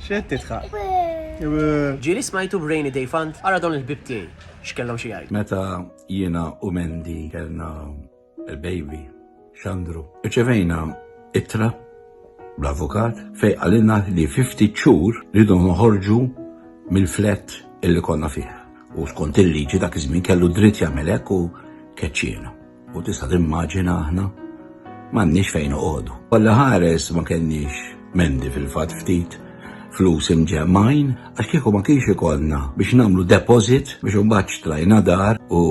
Xed titħaq? Ġili smajtu b'Rainy Day Fund għara dawn il-bib tiegħi x'kellhom xi jgħid. Meta jiena u Mendi kellna il-baby Xandru. Iċevejna ittra bl-avukat fej għalina li 50 ċur ridu noħorġu mill-flat illi konna fih. U skont il-liġi dak iż-żmien kellu dritt jagħmel hekk u keċċiena. U tista' timmaġina aħna m'għandniex fejn noqogħdu. Kollha ħares ma kellniex mendi fil-fatt ftit flus imġemmajn għax kieku ma kienx ikollna biex nagħmlu deposit biex imbagħad xtrajna dar u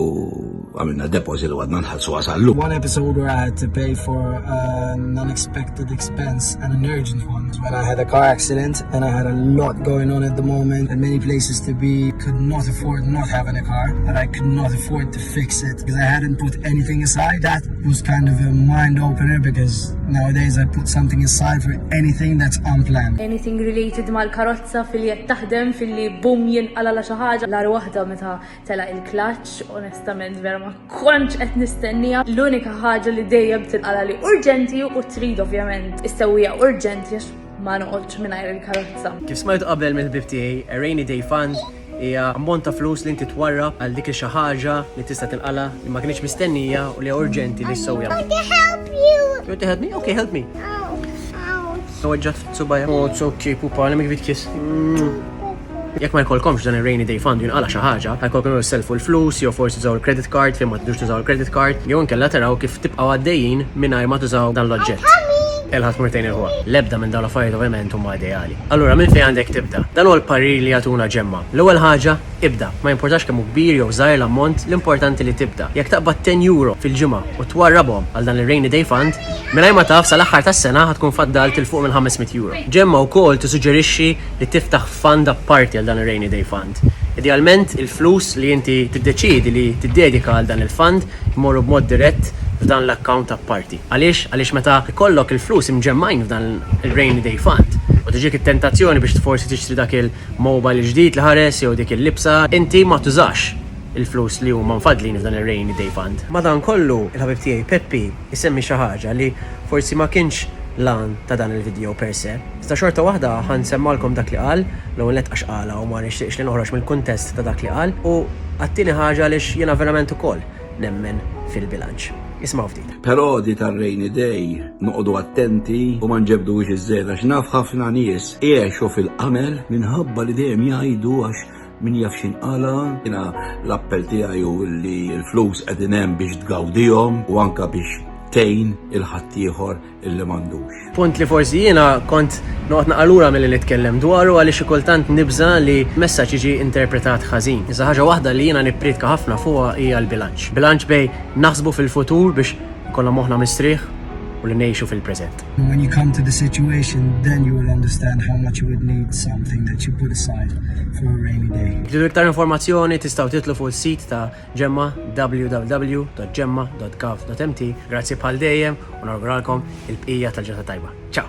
għamilna deposit u għadna nħallsu għasallu. One episode where I had to pay for an unexpected expense and an urgent one when I had a car accident and I had a lot going on at the moment and many places to be could not afford not having a car and I could not afford to fix it because I hadn't put anything aside. That was kind of a mind opener because nowadays I put something aside for anything that's unplanned. Anything related mal-karozza fil-li qed taħdem, fil-li bum jinqala la xi ħaġa. L-ar waħda meta tela' il-klaċċ, onestament vera ma kontx qed nistennija. L-unika ħaġa li dejjem tinqala li urġenti u trid ovvjament issewwija urġenti għax ma noqgħodx mingħajr il-karozza. Kif smajt qabel mill-ħbib tiegħi, a rainy day fund Hija ammont ta' flus li inti twarrab għal dik il-xi ħaġa li tista' tilqalha, li ma kinitx mistennija u li hija urġenti li ssewwiha. I need to help you! You want to help me? Okay, help me! Ouch! Ouch! Weġġgħet fis-subgħajja. Oh, it's okay, pupa, let me give you a kiss. Mwah. Jekk ma jkollkomx dan ir-rainy day fund u jinqala' xi ħaġa, ħajkollkom jew issellfu l-flus jew forsi tużaw il-credit card fejn ma tridux tużaw il-credit card, jew inkella taraw kif tibqgħu għaddejjin mingħajr ma tużaw dan l-oġġett. Elħa tmur tgħin il-ħuha. L-ebda minn dawn l-affarijiet ovvjament huma ideali. Allura minn fejn għandek tibda? Dan huwa l-parir li jagħtuna ġemma. L-ewwel ħaġa, ibda. Ma jimpurtax kemm hu kbir jew żgħir l-ammont, l-importanti li tibda. Jekk taqbad ten euro fil-ġimgħa u twarrabhom għal dan ir-rainy day fund, mingħajr ma taf sal-aħħar tas-sena ħa tkun faddalt 'il fuq minn 500 euro. Ġemma wkoll tissuġġerixxi li tiftaħ fund apparti għal dan ir-rainy day fund. Idealment, il-flus li inti tiddeċiedi li tiddedika għal dan il-fund jmorru b'mod dirett f'dan l-account apparti. Għaliex? Għaliex meta jkollok il-flus imġemmgħin f'dan ir-rainy day fund u tiġik it-tentazzjoni biex forsi tixtri dak il-mobile il-ġdid li ħares jew dik il-libsa, inti ma tużax il-flus li huma mfaddlin f'dan ir-rainy day fund. Madankollu, il-ħabib tiegħi Peppi jsemmi xi ħaġa li forsi ma kienx l-għan ta' dan il-vidjow per se, iżda xorta waħda ħa nsemmgħalkom dak li qal, l-ewwel nett għax qalha u ma nixtieqx li noħroġ mill-kuntest ta' dak li qal, u għat-tieni ħaġa għaliex jiena verament ukoll. nemmen fil-bilanċ. Ismgħu ftit. Perodi tar-rainy day noqogħdu attenti u ma nġebbduhiex iżżejjed għax naf ħafna nies igħexu fil-qamel minħabba li dejjem jgħidu għax min jaf x'jinqala'. Jiena l-appell tiegħi hu li l-flus qegħdin hemm biex tgawdihom u anke biex tgħin il-ħaddieħor illi m'għandux. Punt li forsi jiena kont noqgħod naqalura milli nitkellem dwaru għaliex xi kultant nibża li messaġġ jiġi interpretat ħażin. Iżda ħaġa waħda li jiena nippriedka ħafna fuqha hija l-bilanċ. Bilanċ bejn naħsbu fil-futur biex ikollna moħħna mistrieħ u li ngħixu fil-preżent. When you come to the situation then you will understand how much you would need something that you put aside for a rainy day. Tridu iktar informazzjoni tistgħu titlu fuq is-sit ta' Ġemma, www.gemma.gov.mt Grazzi bħal dejjem u nawguralkom il-bqija tal-ġurnata tajba. Ciao!